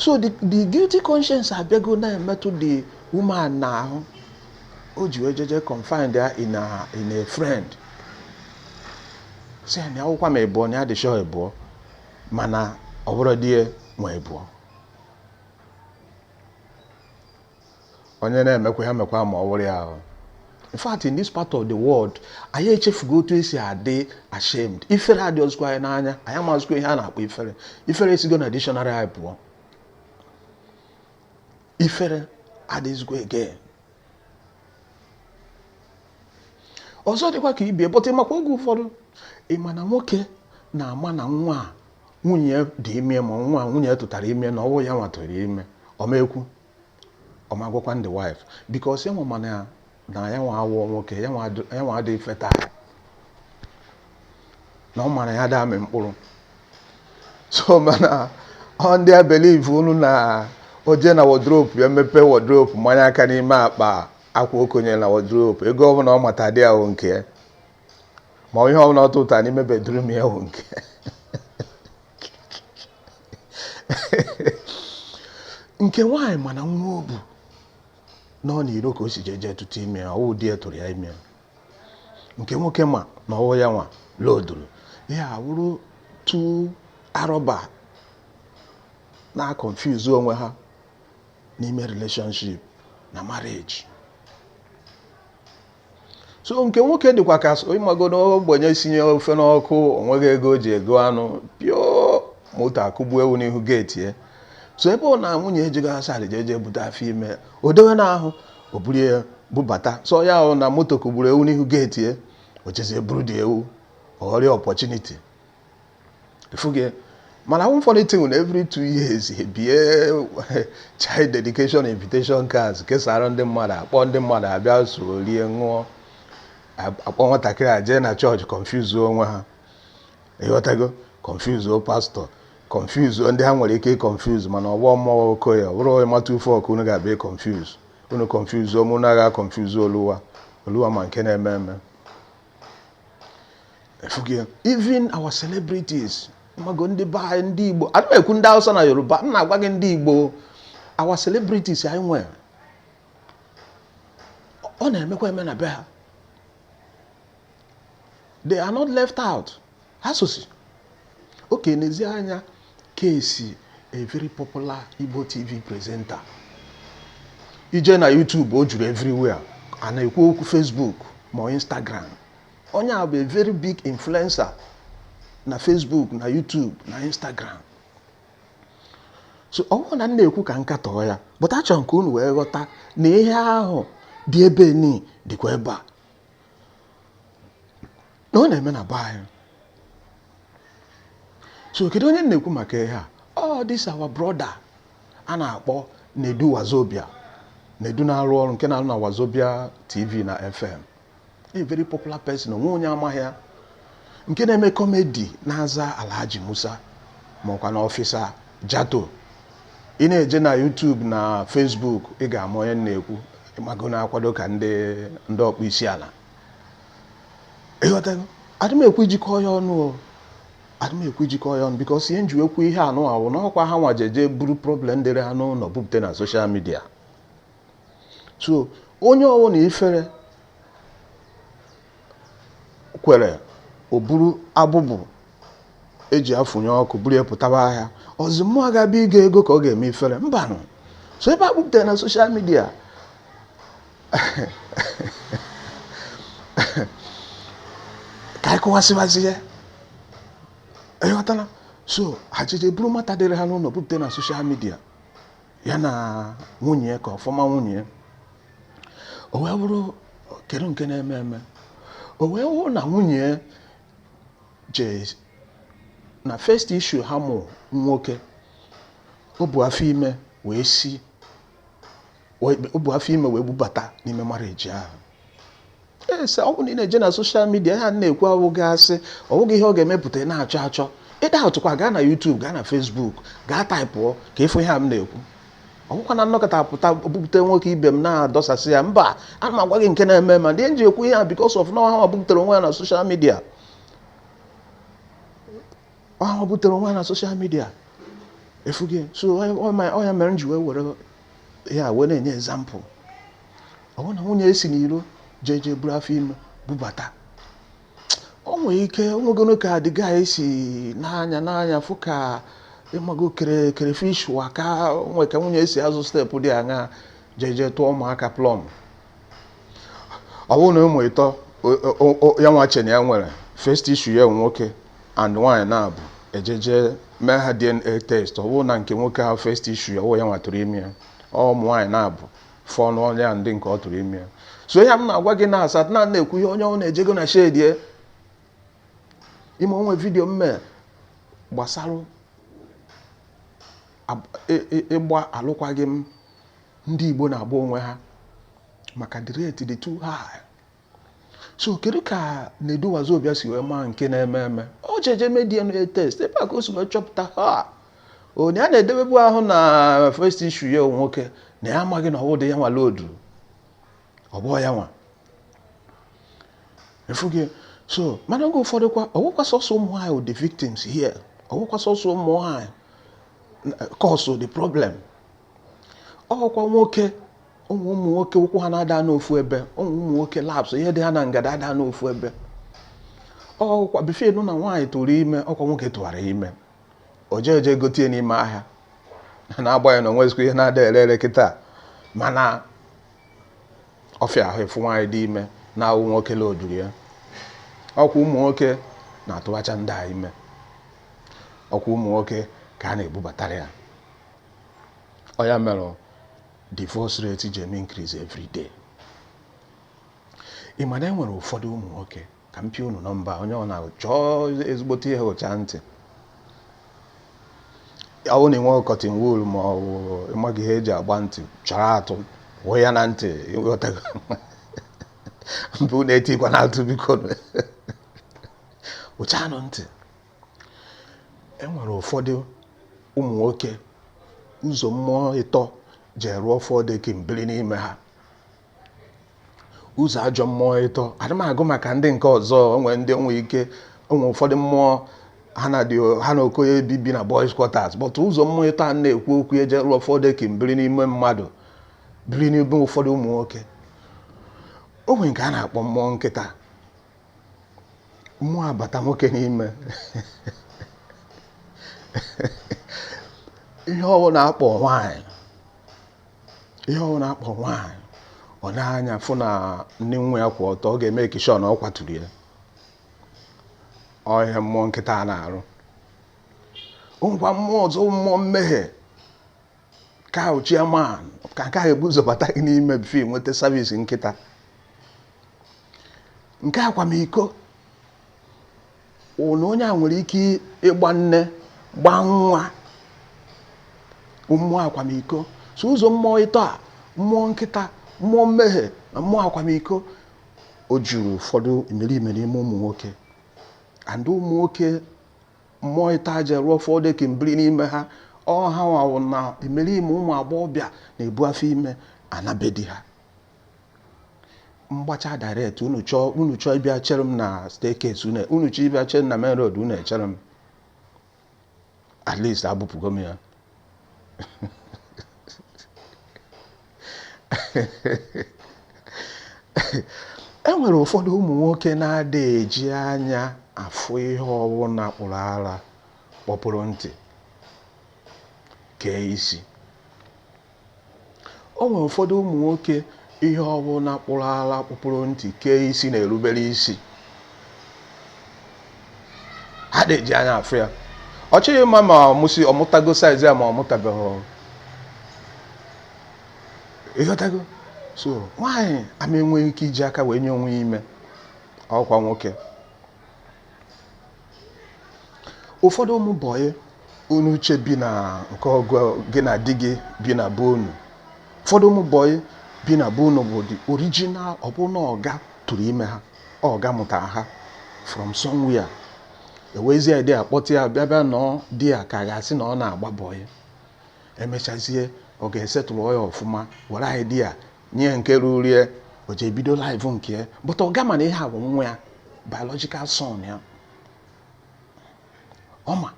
so the the guilty conscience abịago na-emetụ the woman n'ahụ o ji wee jeje confide ya in a in a friend sị ya na ọ wụkwa ịbụọ na ya dị sure ịbụọ mana ọ bụrọ di ya nwe ịbụọ onye na-emekwa ya mekwa ma ọ wụrụ ya ahụ in fact in this part of the world anyị echefugo otu esi adị ashamed ifere adịhọzikwa anyị n'anya anyị amazikwa ihe a na-akpọ ifere ifere esigo na dictionary anyị pụọ ifere adịzikwa again ọzọ dịkwa ka ibe ya bụ that ị makwa oge ụfọdụ ị ma na nwoke na-ama na nwa a nwunye dị ime ma nwa nwunye tụtara ime na ọ wụhọ ya nwa tụrụ ime ọ ma-ekwu ọ ma-agwakwa the wife because ya nwa ma na na ya nwa awụhọ nwoke ya nwa adịghị fertile na ọ mara ya ada amị mkpụrụ so mana ọ ndị a believe unu na o jee na wardrobe ya mepee wardrobe manye aka n'ime akpa akwa o konye na wardrobe ego ọbụla ọ mata there ọ nke ya ma ihe ọbụla ọ tụta n'ime bedroom ya ọ nke ya nke nwaanyị ma na nwa o bu na ọ n'iro ka o si jeje tụtụ ime ya ọ wụhọ di ya tụrụ ya ime ya nke nwoke ma na ọ wụhọ ya nwa loadụrụ ya ha wụrụ two armed robber na-aconfuse onwe ha n'ime relationship na marriage so nke nwoke dịkwa ka ị mago na ogbenye sinye ofe n'ọkụ o nweghị ego o ji ego anụ pio moto akụgbuo ewu n'ihu gate ya so ebe ọ na nwunye ejighị asarị jee jee bute afọ ime o dewe n'ahụ o buru ya bubata so ya ahụ na moto kụgburu ewu n'ihu gate ya o jezie buru the ewu ọ ghọrọ ya opportunity efughị mana one funny thing na every two years e bie child dedication invitation cards kesara ndị mmadụ akpọ ndị mmadụ abịa so rie ṅụọ akpọ nwatakịrị a jee na church confuse onwe ha ịghọtago kọnfuzuo pastor kọnfuzuo ndị ha nwere ike ịkọnfuzu mana ọgbọ mmụọ okoye ọ bụrụ ịmata ufe ọkụ unu ga-abịa ịkọnfuzu unu kọnfuzuo m unu aga confuse oluwa oluwa ma nke na-eme eme even our celebrities mago ndị be anyị ndị igbo adị m ekwu ndị hausa na yoruba m na-agwa gị ndị igbo our celebrities anyị nwere ọ na-emekwa eme na be ha they are not left out ha sosi oke n'ezi anya ka esi a very popular Igbo TV presenter i je na YouTube o juru everywhere a na-ekwu okwu Facebook ma Instagram onye a bụ a very big influencer na Facebook na YouTube na Instagram so ọ bụghị na m na-ekwu ka m katọọ ya but achọrọ m ka unu wee ghọta na ihe ahụ dị ebe ni dịkwa ebe a na ọ na-eme na be anyị so kedu onye m na-ekwu maka ihe a ọ this our brother a na-akpọ Nedu Wazobia Nedu na-arụ ọrụ nke na-arụ na Wazobia TV na FM a very popular person onwe onye amaghị ya nke na-eme comedy na-aza Alhaji Musa ma ọkwanụ Officer Jato ị na-eje na YouTube na Facebook ị ga-ama onye m na-ekwu ịmago na-akwado ka ndị ndị ọkpọ isi ala ịghọtago adị m ekwu iji kọọ ya ọnụ o adị m ekwu iji kọọ ya ọnụ because ihe m ji ekwu ihe anụa wụ na ọkwa hanwa jeje buru problem dịrị ha n'ụlọ bupụta na social media so onye ọwụ na ifere kwere o buru abụbụ eji afụnye ọkụ buru ya pụtaba ahịa ọ zị mụwa ga-abịa ịga ego ka ọ ga-eme ifere mbanụ so ebe ha bupụtara na social media ka anyị kọwasịwazi ya ịghọtala so ha jeje buru matter dịrị ha n'ụlọ bupụta na social media ya na nwunye ya ka ọ former nwunye ya o wee bụrụ kedu nke na-eme eme o wee wụrụ na nwunye ya je na first issue ha mụ nwoke o bu afọ ime wee si o bu afọ ime wee bubata n'ime marriage ahụ so ọ bụrụ na ị na-eje na social media ihe m na-ekwu awụghị asị ọ bụghị ihe ọ ga-emepụta ị na-achọ achọ ị doubtụkwa gaa na YouTube gaa na Facebook gaa taịpụọ ka ị fụ ihe a m na-ekwu ọ bụkwa na m nọkata pụta bupụta nwoke ibe m na-adọsasị ya mba ana m agwa gị nke na-eme mana ihe m ji ekwu ihe a because of na ọ ha butere onwe ha na social media ọ ha butere onwe ha na social media ị fụgo so ọ ya mere m ji wee were ya wee na-enye example ọ bụrụ na nwunye esi n'iro jee jee buru afọ ime bubata o nwere ike o nwegoro ka dịga anyị si n'anya n'anya fụ ka ịmago kere kerefish wa ka o nwe ka nwunye esi azụ steepụ dị aṅa jee jee tụọ ụmụaka plọm ọ bụrụ na ụmụ ịtọ ya nwa chee na ya nwere first issue ya nwoke and nwaanyị naabọ e jee je mee ha DNA test ọ bụrụ na nke nwoke ahụ first issue ya wụ ya nwa tụrụ ime ya ọ ụmụ nwaanyị naabọ fọnụ ọ ya ndị nke ọ tụrụ ime ya so ihe m na-agwa gị na as at now na-ekwu ihe onye ọwụna ejego na shedie ime o nwe vidiyo m me gbasara ịgba alụkwaghị m ndị Igbo na-agba onwe ha maka the rate dị too high so kedu ka Nedu Wazobia si wee maa nke na-eme eme o jeje mee DNA test ebe a ka o si wee chọpụta ha onye a na-edebebu ahụ na first issue ya nwoke na ya amaghị na ọwụdị ya nwa lodu ọ bụ ya nwa efughị so mana oge ụfọdụ kwa ọwụkwa sọsọ ụmụ nwaanyị wụ the victims here ọwụkwa sọsọ ụmụ nwaanyị cause the problem ọkwa nwoke o nwe ụmụ nwoke ụkwụ ha na-ada anọ ofu ebe ụmụ ụmụ nwoke laps ihe dị ha na ngada ada anọ ofu ebe ọkwa before ị nụ na nwaanyị tụrụ ime ọkwa nwoke tụwara ime o jee eje gotie n'ime ahịa na na-agbaghị na o nwezikwa ihe na-ada ere ere kịta mana ọ fịa ahụ ịfụ nwaanyị dị ime na-awụ nwoke la ojuru ya ọkwa ụmụ nwoke na-atụwacha ndị a ime ọkwa ụmụ nwoke ka a na-ebubatara ya ọ ya mere divorce rate ji eme increase every day ị ma na e nwere ụfọdụ ụmụ nwoke ka m pịa unu nọmba onye ọwụna chọọ ezigbote ihe hụcha ntị ọwụ na i nwe cotton wool ma ọ bụ ịmaghị ihe e ji agba ntị chọrọ atụ wụọ ya na ntị ịghọtago mbụ na-etikwa na atụ biko hụchanụ ntị e nwere ụfọdụ ụmụ nwoke ụzọ mmụọ ịtọ je rụọ four deck biri n'ime ha ụzọ ajọ mmụọ ịtọ adị m agụ maka ndị nke ọzọ o nwere ndị o nwe ike o nwere ụfọdụ mmụọ ha na dị ha na Okoye bi bi na boys quarters but ụzọ mmụọ ịtọ a na-ekwu okwu e je rụọ four deck biri n'ime mmadụ biri n'ime ụfọdụ ụmụ nwoke o nwe nke a na-akpọ mmụọ nkịta mmụọ a bata nwoke n'ime ihe ọwụna a kpọ nwanyị ihe ọwụna a kpọ nwanyị ọ n'anya fụ na ndị nwa ya kwụ ọtọ ọ ga-eme action ọ kwaturu ya ọhịa mmụọ nkịta a na-arụ ngwa mmụọ ọzọ mmụọ mmehie Ka ọ chairman ka nke a ga-ebu ụzọ bata gị n'ime before i nweta service nkịta nke akwamiko na onye a nwere ike ịgba nne gbaa nwa mmụọ akwamiko so ụzọ mmụọ ịtọ a mmụọ nkịta mmụọ mmehie na mmụọ akwamiko o juru ụfọdụ imerime n'ime ụmụ nwoke and ụmụ nwoke mmụọ ịtọ a jee rụọ four decking biri n'ime ha ọ ha nwa wụ na imerime ụmụ agbọghọ bịa na-ebu afọ ime ana be di ha m gbachaa direct unu chọọ unu chọọ ịbịa chere m na staircase unu unu chọọ ịbịa chere m na main road unu echere m at least agbụpụgo m ya e nwere ụfọdụ ụmụ nwoke na-ada eji anya afụ ihe ọbụla kpụrụ ara kpọpụrụ ntị kee isi O nwere ụfọdụ ụmụ nwoke ihe ọbụla kpụrụ ala kpọpụrụ ntị kee isi na-erubere isi ha ada eji anya afụ ya ọ chọghị ịma ma ọ mụsị ọ mụtago size ya ma ọ mụtabeghị ị ghọtago so nwaanyị ama enwe ike iji aka wee nye onwe ya ime ọ kwa nwoke ụfọdụ ụmụ bọyị unu che bi na nke ọgụ gị na di gị bi na be unu ụfọdụ ụmụ bọyị bi na be unu bụ the original ọ bụ na ọga tụrụ ime ha ọga mụta ha from somewhere o wezie idea kpọta ya bịa bịa nọ ọ dị ya ka a ga-asị na ọ na-agba bọyị e mechazie ọga esettle ya ọfụma were idea nye nke ruru ya o ji ebido life nke ya but ọga ma na ihe a wụ nwa ya biological son ya ọ ma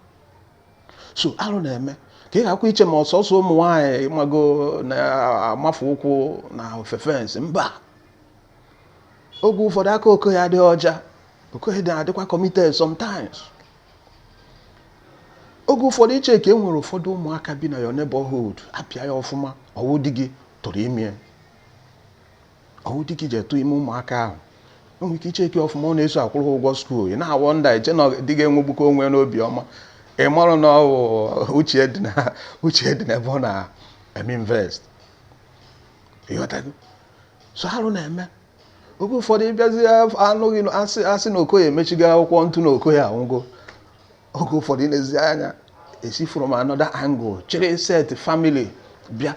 so alụ na-eme ka ị gharakwa iche ma ọ sọsọ ụmụ nwaanyị mago na-amafe ụkwụ na ofe fence mba oge ụfọdụ aka okoye adịghị ọcha okoye na-adịkwa committed sometimes oge ụfọdụ i checkie e nwere ụfọdụ ụmụaka bi na your neighborhood apịa ya ọfụma ọ wụ di gị tụrụ ime ya ọ wụ di gị je tụ ime ụmụaka ahụ o nwere ike i checkie ọfụma ọ na-eso akwụrụ ụgwọ school ị na-awonder eche na di gị enwegbukọ onwe n'obi ọma ị marọ na ọ wụ uche dị na uche dị n'ebe ọ na-eme invest ị ghọtago so arụ na-eme oge ụfọdụ ị bịazị anụghị asị asị na okoye emechigo akwụkwọ ntụ na okoye anwụgo oge ụfọdụ ị na-ezi anya e si from another angle chịrị set family bịa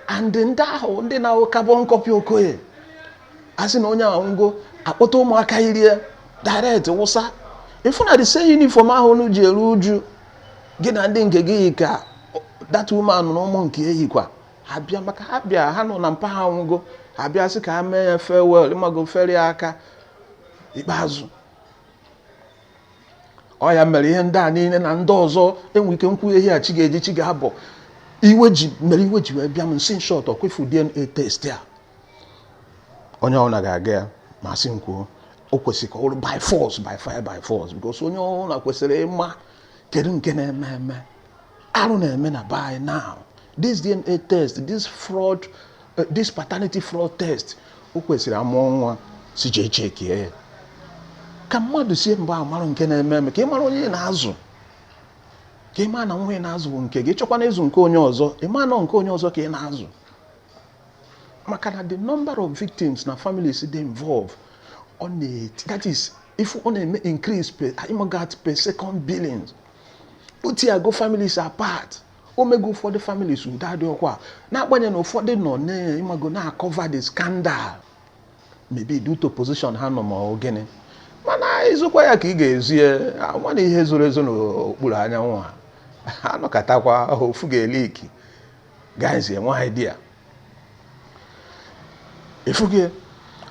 and ndị ahụ ndị na-awụ carbon copy okoye a sị na onye ahụ nwụgo akpọta ụmụaka irie direct wụsa ị fụ na the same uniform ahụ unu ji eru uju gị na ndị nke gị yi ka that woman na ụmụ nke ya yikwa ha bịa maka ha bịa ha nụ na mpa ha nwụgo ha bịa sị ka ha mee ya farewell ị mago feere ya aka ikpeazụ ọ ya mere ihe ndị a niile na ndị ọzọ enwe ike m kwuwe ihe a chi ga-eji chi ga-abọ iwe ji mere iwe ji wee bịa m sị in short ọkwa ị fụ DNA test a onye ọbụla ga-aga ya ma a sị m kwuo o kwesịrị ka ọ bụrụ by force by fire by force because onye ọbụla kwesịrị ịma kedu nke na-eme eme arụ na-eme na by now this DNA test this fraud Eh, this paternity fraud test o kwesịrị a mụọ nwa sị jee chekie ya ka mmadụ sie mgbe a marụ nke na-eme eme ka ị mara onye na-azụ ka ị ma na nwa ị na-azụ bụ nke gị ị chọkwanụ ịzụ nke onye ọzọ ị ma na ọ nke onye ọzọ ka ị na-azụ maka na the number of victims na families dị involved ọ na-eti that is if ọ na-eme increase per, per second billions put ya go families apart o mego ụfọdụ families udo adịrọkwa na-agbanye na ụfọdụ nọ ị mago na-akọva the scandal maybe due to position ha nọ ma gịnị mana i zokwa ya ka ị ga-ezo ya mana ihe zoro ezo n'okpuru anyanwụ ha anọkatakwa ofu ga-eliki guys enwe idea ị fụgo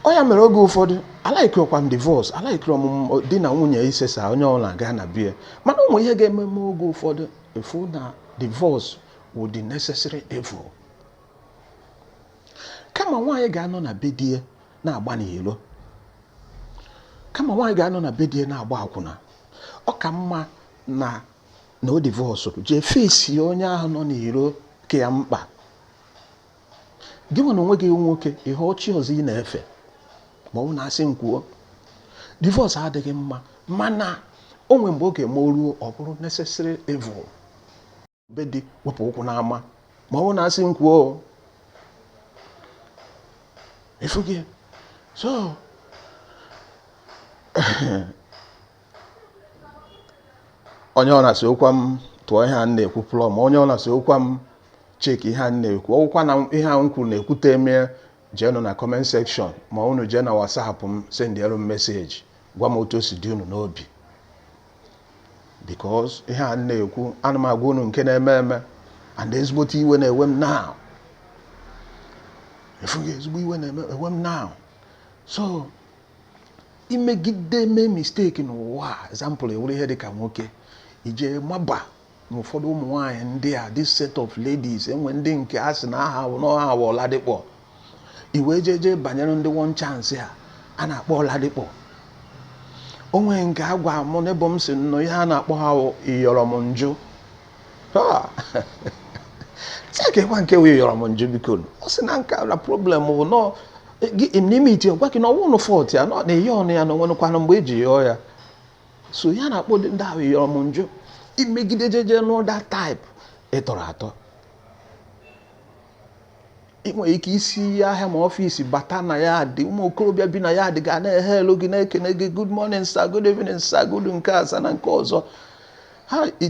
ọ ya mere oge ụfọdụ alaikirọkwa m divorce alaikirọ m di na nwunye isesa onye ọbụla gaa na be ya mana o nwe ihe ga-eme m oge ụfọdụ ị fụ na divorce wụ the necessary evil kama nwaanyị ga-anọ na be di ya na-agba n'ilo kama nwaanyị ga-anọ na be di ya na-agba akwụna ọ ka mma na na o divọsụrụ jee fesi onye ahụ nọ n'iro ka ya mkpa gị nwenụ onwe gị nwoke ihe ọ chi ọzọ ị na-efe ma ọ bụ na a sị m kwuo divorce adịghị mma mana o nwere mgbe ọ ga-eme o ruo ọ bụrụ necessary evil but iwepụ ụkwụ n'ama ma ọ bụ na a sị m kwuo ị fụgo so onye ọ na-asị okwa m tụọ ihe a na-ekwu plọm onye ọ na-asị okwa m cheki ihe a na-ekwu ọ bụkwa na ihe a m kwuru na ekwuterọ m ya jeenụ na comment section ma unu jee na WhatsApp m sendịelu m message gwa m otu o si dị unu n'obi because ihe a na-ekwu ana m agwa unu nke na-eme eme and ezigbote iwe na-ewe m now ị fụgo ezigbo iwe na-ewe m now so imegide mee misteki n'ụwa a example ị wụrụ ihe dịka nwoke i je maba na ụfọdụ ụmụ nwaanyị ndị a this set of ladies e nwe ndị nke a sị na aha ha wụ ọladịkpọ i wee jeje banyere ndị one chance a a na-akpọ ọladịkpọ o nwere nke a gwa mụ n'ebe m si nọ ihe a na-akpọ ha wụ ị yọrọ m njụ sị kekwa nke wụ yọrọ m njụ biko nụ ọ sị na nke a na problem bụ na i metụ ọ gwa gị na ọ wụ nụ fault ya na ị yọọ nụ ya na o nwenụkwanụ mgbe e ji yọọ ya so ya na-akpọ ndị ahụ yọrọ m njụ imegide jeje nụ that type ị tọrọ atọ ị nwere ike isi ahịa ma ọfịs bata na yard ụmụ okorobịa bi na yard ga na-ehail gị na-ekene gị good morning sir good evening sir good nke a sir na nke ọzọ ha i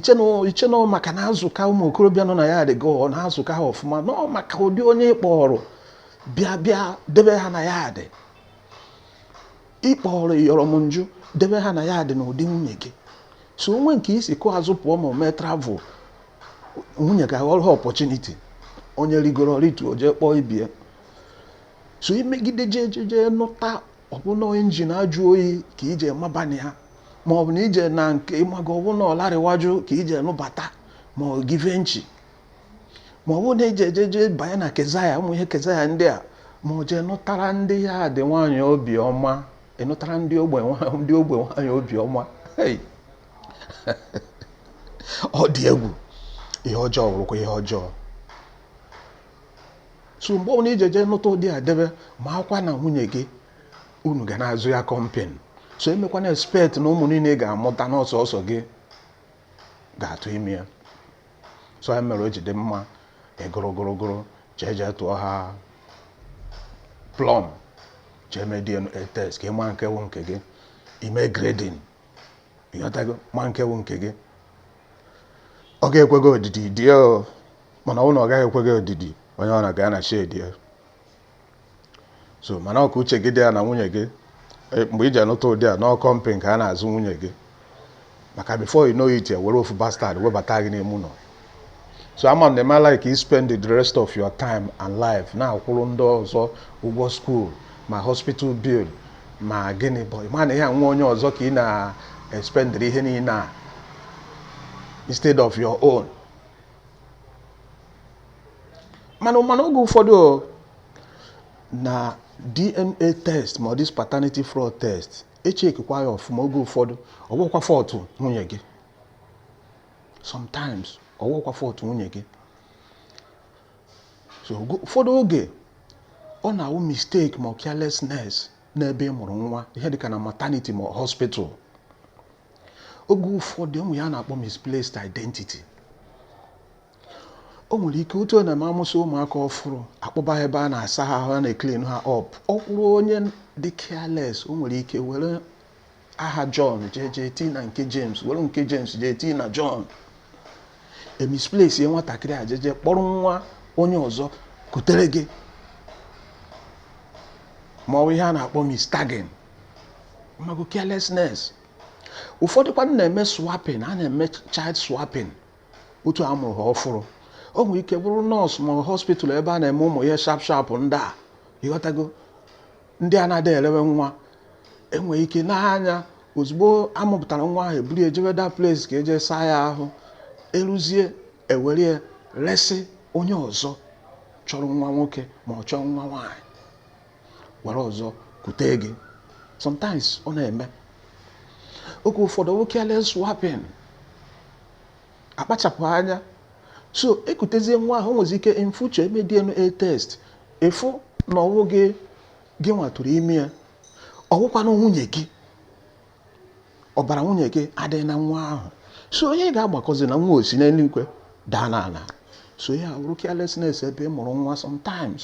chee nụ maka na azụka ụmụ okorobịa nọ na yard gị ọ na-azụka ha ọfụma na ọ maka ụdị onye ị kpọrọ bịa bịa debe ha na yard ị kpọrọ ị yọrọ m njụ debe ha na yard n'ụdị nwunye gị so o nwe nke i si kụ azụ pụọ ma o mee travel nwunye ga-aghọrọ ha opportunity onye rigoro rituo jee kpọọ ibe ya so imegide jee jee jee nụta ọ bụ nụ engine ajụ oyi ka i je maba na ya ma ọ bụ na ije na nke ịmaga ọbụna ọlarịwajụ ka i je nụbata ma ọ givenchy ma ọ bụrụ na i jeje banye na kezaya ụmụ ihe kezaya ndị a ma o jee nụtara ndị yard nwaanyị obiọma ị nụtara ndị ogbe ndị ogbe nwaanyị obiọma ọ dị egwu ihe ọjọọ wụrụkwa ihe ọjọọ so mgbe ọbụla i je jee nụta ụdị a debe makwa na nwunye gị unu ga na-azụ ya company so emekwana expect na ụmụ niile ọ ga-amụta na ọ sọọsọ gị ga-atụ ime ya so ya mere o ji dị mma ịgụrụ gụrụ gụrụ jee jee tụọ ha plọm jee mee DNA test ka ị ma nke wụ nke gị i mee grading ị ghọtago ma nke wụ nke gị ọ ga-ekwe gị odidi die ya mana ọ bụrụ na ọ gaghị ekwe gị odidi onye ọ na-aga ya na shed ya so mana ọ ka uche gị dị ya na nwunye gị e, mgbe i je nụta ụdị a na ọ company ka a na-azụ nwunye gị maka before you know it ya were ofu bastard webata gị n'ime ụlọ so ama m na ị ma like ị spend the rest of your time and life na-akwụrụ ndị ọzọ ụgwọ skuul ma hospital bill ma gịnị mana ọ wụ nwa onye ọzọ ka ị na-espendịrị ihe niile a instead of your own mana mana oge ụfọdụ na DNA test ma ọ this paternity fraud test echeckikwa ya ọfụma oge ụfọdụ ọwụkwa fault nwunye gị sometimes ọwụkwa fault nwunye gị so ụfọdụ oge ọ na-awụ mistake ma ọ carelessness n'ebe ị mụrụ nwa ihe dịka na maternity ma ọ hospital oge ụfọdụ o nwe ihe a na-akpọ misplaced identity o nwere ike otu na ma amụsị ụmụaka ọfụrụ akpọba ha ebe a na-asa ha ahụ a na-eclean ha up ọ wụrụ onye dị careless o nwere ike were aha John jee jee tii na nke James were nke James jee tii na John emisplacie nwatakịrị a jeje kpọrọ nwa onye ọzọ kutere gị ma ọ wụ ihe a na-akpọ mistagging ma ọwụ carelessness ụfọdụkwa na-eme swapping a na-eme child swapping otu a mụrụ ha ọfụrụ o nwere ike bụrụ nurse ma hospital ebe a na-eme ụmụ ihe sharp sharp ndị a ịghọtago ndị a na-adị erewe nwa enwere ike n'anya ozugbo amụpụtara nwa ahụ eburu ya jebe that place ka eje saa ya ahụ eruzie ewere ya resị onye ọzọ chọrọ nwa nwoke ma ọ chọrọ nwa nwaanyị were ọzọ kute gị sometimes ọ na-eme oge ụfọdụ ọwụ careless swapping akpachapụghị anya so ekutezie nwa ahụ nwezi ike in future eme DNA test ịfụ na ọwụghị gị nwa tụrụ ime ya ọwụkwanụ nwunye gị ọbara nwunye gị adịghị na nwa ahụ so onye ga-agbakọzi na nwa o si n'eluigwe daa n'ala so ya wụrụ carelessness ebe ị mụrụ nwa sometimes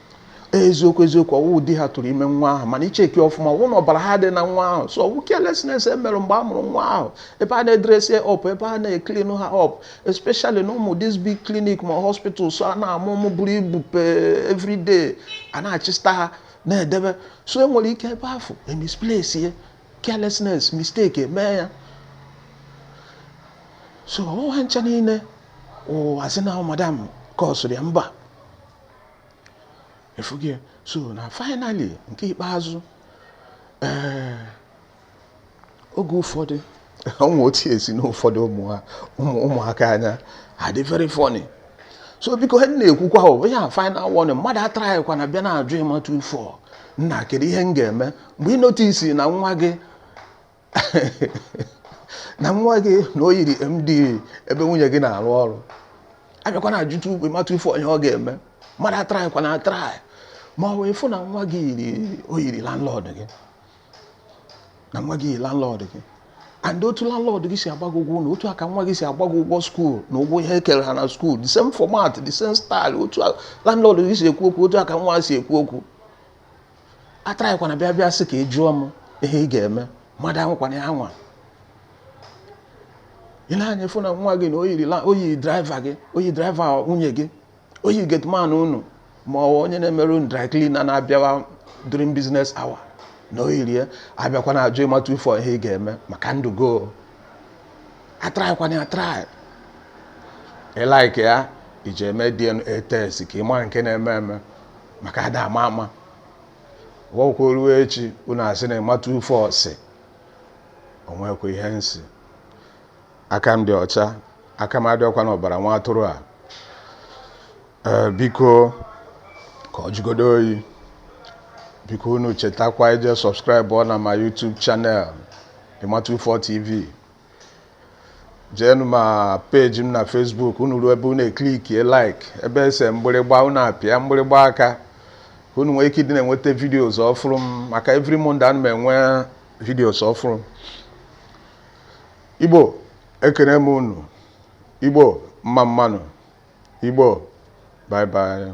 eziokwu eziokwu ọwụ di ha tụrụ ime nwa ahụ mana icheckie ọfụma ọwụ na ọbara ha adịghị na nwa ahụ so ọwụ carelessness e mere mgbe a mụrụ nwa ahụ ebe a na-edressi up ebe a na-eclean ha up especially na ụmụ this big clinic ma hospitals a na-amụ ụmụ buru ibu per everyday a na-achịsta ha na-edebe so e nwere ike ebe ahụ emisplace ya carelessness mistake emee ya so ọwụ ha ncha niile wụ asị na madam kọsụrụ ya mba ịfụgo ya so na finally nke ikpeazụ ee oge ụfọdụ o nwe otu esi n'ụfọdụ ụmụaka anya adị very funny so biko ha na-ekwukwa ọ bụ ya final warning mmadụ atrykwana bịa na-ajụ ịmatụ ifo nna kedu ihe m ga-eme mgbe ị notice na nwa gị na nwa gị na o yiri MD ebe nwunye gị na-arụ ọrụ abịakwana ajụ Emma two four ihe ị ga-eme mmadụ atraịkwana atraị ma ọ wụ ị fụ na nwa gị yiri o yiri landlord gị na nwa gị yiri landlord gị and otu landlord gị si agbago ụgwọ na otu a ka nwa gị si agbago ụgwọ skuul na ụgwọ ihe e kere ha na skuul the same format the same style otu landlord gị si ekwu okwu otu a ka nwa si ekwu okwu atraịkwana bịa bịa sị ka ị jụọ m ihe ị ga-eme mmadụ anwakwana ya anwa ị na-anya afụ na nwa gị na o yi driver gị o yi driver nwunye gị o yi gateman unu ma ọ onye na-emere unu dry cleaner na-abịawa during business hour na o yiri ya abịakwana ajụ Emma two four ihe ị ga-eme maka ndụ gị atraịkwana ya atraị ị like ya ị je mee DNA test ka ị mara nke na-eme eme maka ada ama ama ọ wụkwa ruo echi unu asị na Emma two four sị o nwekwa ihe m sị aka m dị ọcha aka m adịọkwa n'ọbara nwa atụrụ a ee biko ka ọ jụgodu oyi biko unu chetakwa ije subscribe na my YouTube channel Emma two four TV jeenụ ma page m na Facebook unu ruo ebe unu eklikie like ebe e se mgbịrịgba unu apịa mgbịrịgba a ka unu nwee ike ịdị na-enweta videos ọfụrụ m maka every Monday ana m enwe videos ọfụrụ Igbo ekene m unu Igbo mma mma nụ Igbo bye bye